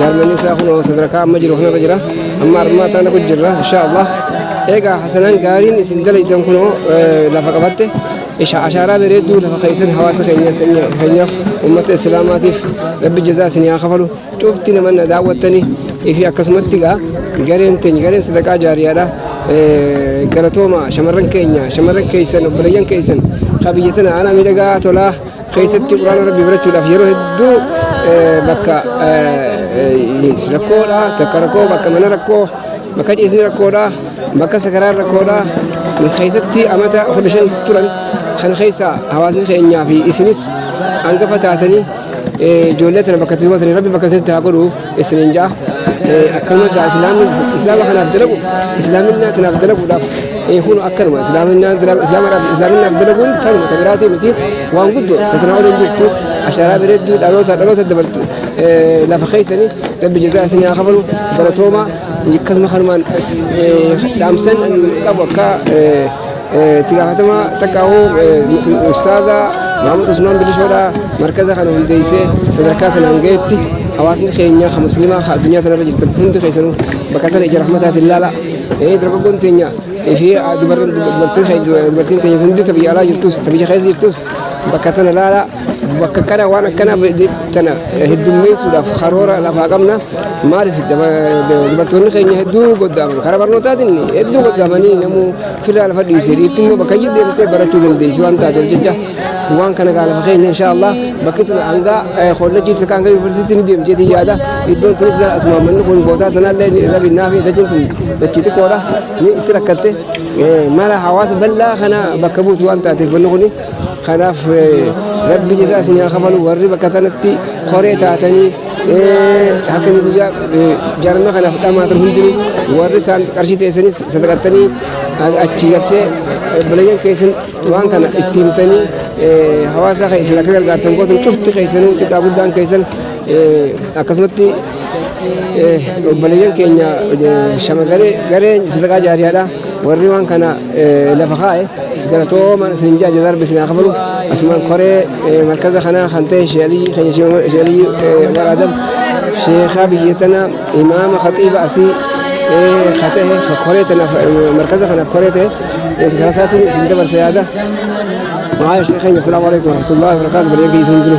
Jaarmanni isaa kunoo sadarkaa amma jiru kanarra jira. Amma armaa taana kun jirra insha Allah. Egaa hasanaan gaariin isin dalaydan kunoo lafa qabatte isha ashaaraa bareedduu lafa keessan hawaasa keenya keenyaaf uummata islaamaatiif rabbi jazaa isin haa kafalu cufti nama na daawwattanii fi akkasumatti egaa gareen teenya gareen sadaqaa jaariyaadha. Galatooma shamarran keenya shamarran keessan obboleeyyan keessan qabiyyatan aanaa miidhagaa tolaa. keessatti quraana rabbii barachuudhaaf yeroo hedduu bakka rakkoodha takka rakkoo bakka mana rakkoo bakka ciisni rakkoodha bakka sakaraan rakkoodha keessatti amata kudha shan turan kan keessa hawaasni keenyaa fi isinis hangafa taatanii ijoollee tana bakka itti gootanii rabbi bakka isinitti haa godhu. isiniin jaa akkanuma gaa islaama kanaaf dalagu islaaminaa tanaaf dalaguudhaaf kun akkanuma islaaminaaf dalaguun tanuma ta biraatii miti waan guddoo tatanaa waliin jirtu ashaaraa bareedduu dhaloota dhaloota dabartu lafa keessanii rabbi jazaa isinii haa kafalu baratoomaa akkasuma kanumaan dhaamsan qabu akka Itti gaafatamaa xaqqaa'uu ustaaza Maamud Usmaan Bilishoodhaa markaza kana hundeessee sadarkaa kanaan ga'etti hawaasni keenya kan musliimaa kan addunyaa tanarra jirtan hundi keessanuu bakka tana ija rahmataatiin laala. Dargaggoon teenya fi dubartiin teenya hundi ta biyya alaa jirtus ta biyya keessa jirtus bakka tana laala. Bakka kana waan akkana tana heddummeessuudhaaf karoora lafaa qabna. Maaliif dubartoonni keenya hedduu goddaaman karaa barnootaatiin hedduu goddaamanii namuu Firraa lafa dhiise dhiirti immoo bakka iyyuu deemtee barachuu dandeessi waan taateef jecha waan kana gaa lafa keenya insha Allah bakki tun hanga kollejjii takka hanga yuunivarsiitii ni deemti jeetii yaada iddoon tunis gaa asuma manni kun bootaa tanaallee ni rabi naaf dachiin tun dachii xiqqoodha ni itti rakkatte mala hawaasa bal'aa kana bakka buutu waan taateef manni kuni kanaaf rabbi jedhaa isin haa kafalu warri bakka tanatti koree taatanii Hakimi guyyaa jaarmaa kanaaf dhamaatan hundinuu warri isaan qarshii teessanis sadaqattanii achi gattee obboleeyyan keessan waan kana itti himtanii hawaasaa keessan akka gargaartan gootan cufti keessanuu xiqqaa guddaan keessan akkasumatti obboleeyyan keenya shamarree gareen sadaqaa jaariyaadha. Warri waan kana lafa kaa'e galatooma isin ja'a jazaarbi isin haa kafalu asumaan koree markaza kanaa kan ta'e sheelii keenya sheelii waraadam sheekaa biyya tana imaama khaxiiba asii kan ta'e koree tana markaza kanaaf koree ta'e karaa isaatiin isin dabarsa yaada. Maayyaa sheekeenya asalaamu alaikum warahmatullahi wabarakatuh bareegaa isin jiru.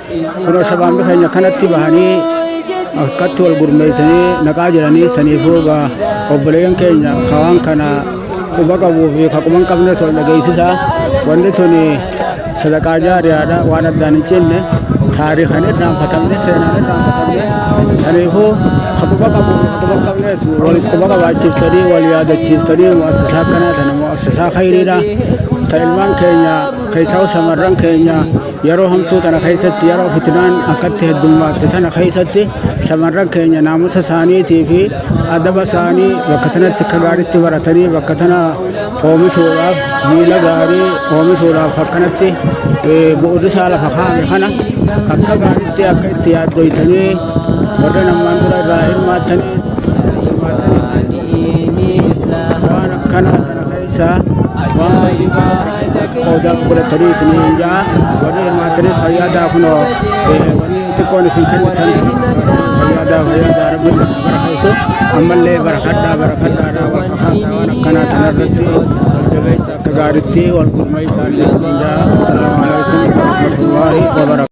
Kunoo sabaanni keenya kanatti bahanii akkatti wal gurmeessanii naqaa jiranii saniifuu egaa obboleeyyan keenya kawaan kana quba qabuu fi ka quba hin qabnes wal dhageessisa. Wanni tuni sadaqaa jaariyaadha waan addaan hin cinne taariikan irraanfatamne seenaan irraanfatamne saniifuu ka quba qabuu fi ka quba hin qabnes wal quba qabaachiiftanii wal yaadachiiftanii mu'assasaa akkanaa tana mu'assasaa khayriidha. Ka ilmaan keenya keessaa shamarran keenya Yeroo hamtuu tana keessatti yeroo fitinaan akkatti heddummaatte tana keessatti shamarran keenya naamusa isaaniitii fi adaba isaanii bakka tanatti akka gaariitti baratanii bakka tana oomishuudhaaf miila gaarii oomishuudhaaf akkanatti bu'uurisaa lafa kaa'ame kana akka gaariitti akka itti yaaddoytanii warreen ammaan dura irraa hirmaattanii hirmaattanii waan akkanaa isaa waan baay'ee qoodaa godhatanii isiniin ja'a warri hirmaatanis fayyaa daakunoo warri xiqqoon isin kennitan fayyaa daa fayyaa daa rabbi isin barakeessu ammallee barakadhaa barakadhaadhaa wal kakaasaa waan akkanaa tanarratti jajjabeessa akka gaaritti wal gurmeessaan isiniin ja'a assalaamu alaikum warahmatullaahi wabarakatuh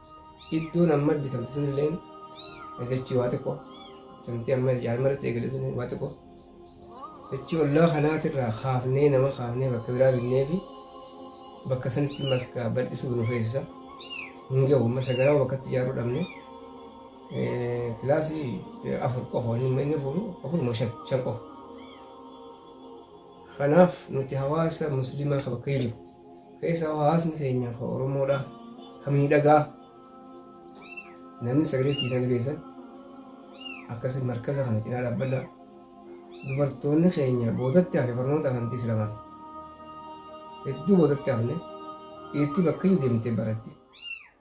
Iddoon amma bitamte sunilleen dachii waa xiqqoo bitamtee amma ijaarama irratti eegale sun waa xiqqoo dachii ollaa kanaatirraa kaafnee nama kaafnee bakka biraa binnee fi bakka sanitti maskaa bal'isuuf nu feesisa hin gahu amma sagaraa bakkatti ijaaruu dhabne kilaasii afur qofa inni fuudhu afur moo shan shan qofa Kanaaf nuti hawaasa muslimaa ka bakka jiru keessaa hawaasni keenya ka Oromoodha ka miidhagaa namni sagalee itti hiitan dhageessan akkasii markaza kana cinaa dhaabbadha. Dubartoonni keenya boodatti hafe barnoota amantii islamaan hedduu boodatti hafne dhiirti bakka iyyuu deemtee baratti.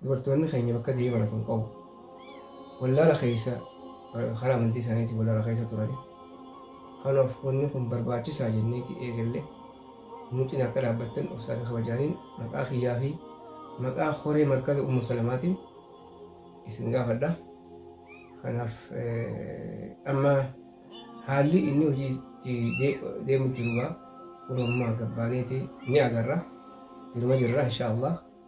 Dubartoonni keenya bakka diinii baratu hin qabu. Wallaala keessa karaa amantii isaaniitiin wallaala keessa turani. Kanaaf wanni kun barbaachisaa jenneeti eegalle nu cina akka dhaabbattan obsaa fi kabajaaniin maqaa kiyyaa fi maqaa horee markaza Ummu Salamaatiin isin gaafadha. Kanaaf amma haalli inni hojii itti deemu jiru gaa kun ammaa gabbaaneeti ni agarra. Jiruma jirra inshaa Allah.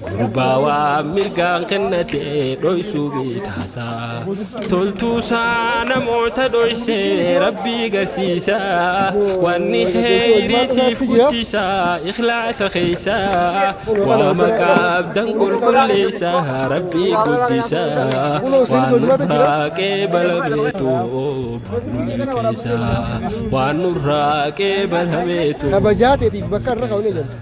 Gurbaa waan mirgaan kennatee dhoysuu bitaasaa toltuusaa namoota dhoysee rabbii garsiisaa wanni kheyrii siif guddisaa ikhlaasa keeysaa waama qabdan qulqulleessaa rabbii guddisaa waan nurraa qeebalameetu barnu milkeessaa waan nurraa qeebalameetu. Kabajaa teetiif bakka irra kaa'uun eegalte.